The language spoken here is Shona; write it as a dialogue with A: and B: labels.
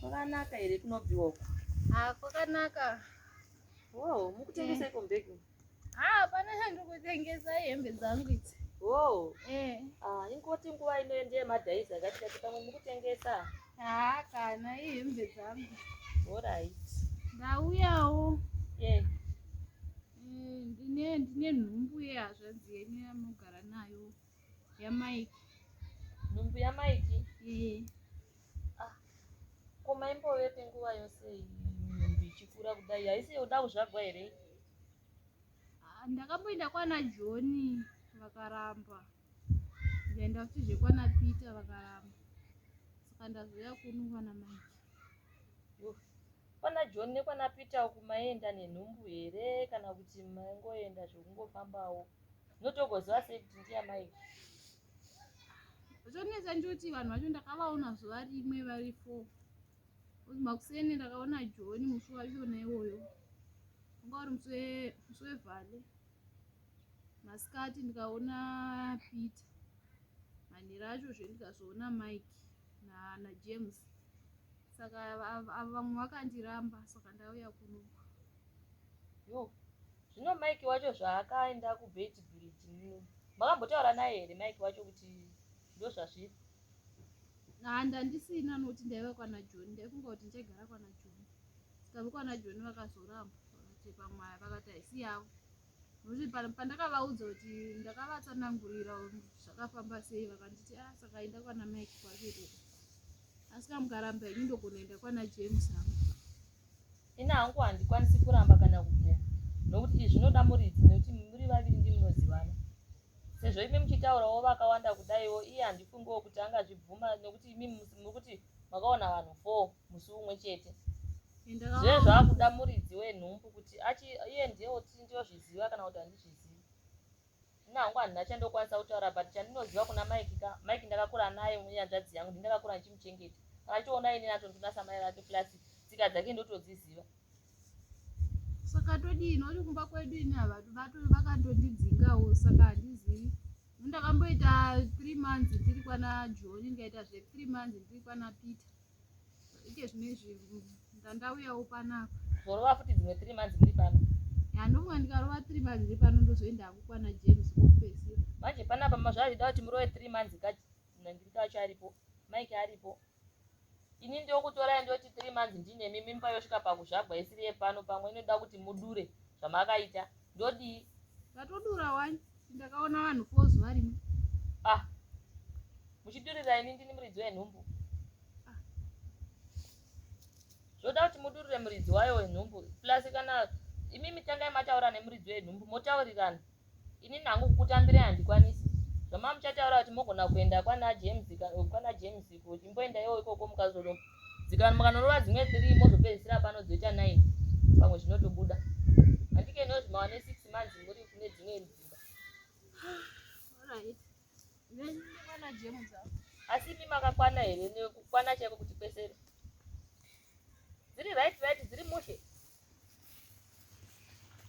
A: Kwakanaka here kunobviwa uko? Ah, kwakanaka. Wow, mukutengesa iko mbegu? Ah, pane
B: handiri kutengesa hembe dzangu idzi. Wow.
A: Eh. Ah, ingoti
B: nguva ino ndiye
A: madhaiza kati kati pamwe mukutengesa? Ah, kana
B: ihembe dzangu. All right.
A: Ndauyawo.
B: Yeah.
A: Eh, ndine ndine nhumbu yehazvadzi
B: yenyu yamogara nayo. yamaiki
A: nhumbu yamaiki eh. ah, ko maimbovepi nguva yose nhumbu ichikura kudai haisi yoda kuzvagwa here ah, ndakamboenda
B: kwana joni vakaramba ndaenda futi zvekwana peter vakaramba saka ndazouya kuno kwana maiki kwana
A: john nekwana peter uku maienda nenhumbu here kana kuti maingoenda zvekungofambawo oh. ndotogoziva sei kuti ndiamai
B: zvonetsa ndoti vanhu vacho ndakavaona zuva rimwe vari four makuseni ndakaona joni musi wachona iwoyo anga uri musi wevhale masikati ndikaona peter manhira acho zve ndikazoona mike najames saka vamwe vakandiramba saka ndauya kunoku Yoo
A: zvino Mike wacho zvaakaenda kubheti bridge nini makambotaura naye here Mike wacho kuti ndozvazviri haa
B: ndandisina noti ndaiva kwana John ndaifunga kuti ndichagara kwana John saka vekwana John vakazoramba vakati pamwe vakati haisi yavo Kuti pandakavaudza kuti ndakavatsanangurira zvakafamba sei vakanditi a ah, saka enda kwana mike kwake ikoko asi ka mukaramba ini ndogona enda kwana james hangu ini
A: hangu handikwanisi kuramba kana kubvuma nokuti izvi zvinoda muridzi nekuti muri vaviri ndimunozivana sezvo imi muchitaurawo vakawanda kudaiwo iye handifungiwo kuti angazvibvuma nekuti imi muri kuti makaona vanhu four musi umwe chete zve zvakuda muridzi wenhumbu kuti achi iye ndiye oti ndiyozviziva kana kuti handizvizivi ini hangu handina chandokwanisa kutaura but chandinoziva kuna mike ka mike ndakakura naye munyanzvadzi yangu ndindakakura ndichimuchengeta kana achiona ini natondinasa mai vake plus tsika dzake ndotodziziva
B: saka todii noti kumba kwedu ini havatu vakandondidzingawo saka handizivi ndakamboita three months ndiri kwana joni ndikaita zve three months ndiri kwana peter ike zvino izvi ndandauyawo panapa zorova futi dzimwe
A: three months ndiri pano ya ndofunga ndikarova
B: three months ndiri pano ndozoenda hangu kwana james kokupesira manje panapa
A: mazvazvida kuti murove three months ka ndiri kacho aripo mike aripo ini ndokutorai ndoti three months ndinemi mimba yosvika pakuzvagwa isiri yepano pamwe inoda kuti mudure zvamakaita ndodii ndatodura
B: wani ndakaona vanhu fo zuva rimwe ah
A: muchidurira ini ndini muridzi wenhumbu ah. zvoda kuti mudurire muridzi wayo wenhumbu plus kana imimi tangai mataura nemuridzi wenhumbu motaurirana Inini hangu kukutambirai handikwanisi. Zvamanga muchataura kuti mogona kuenda kwana James kwana James ko chimboendaiwo ikoko mukazodo dzikana mukanorova dzimwe 3 mozopedzisira pano dzoita 9 pamwe zvinotobuda. Handike nozvi mawane 6 months muri kune dzimwe dzimba.
B: Alright. Nyenye kwana James. Asi imi
A: makakwana here nekukwana chaiko kuti kwesere? Dziri right right dziri mushe.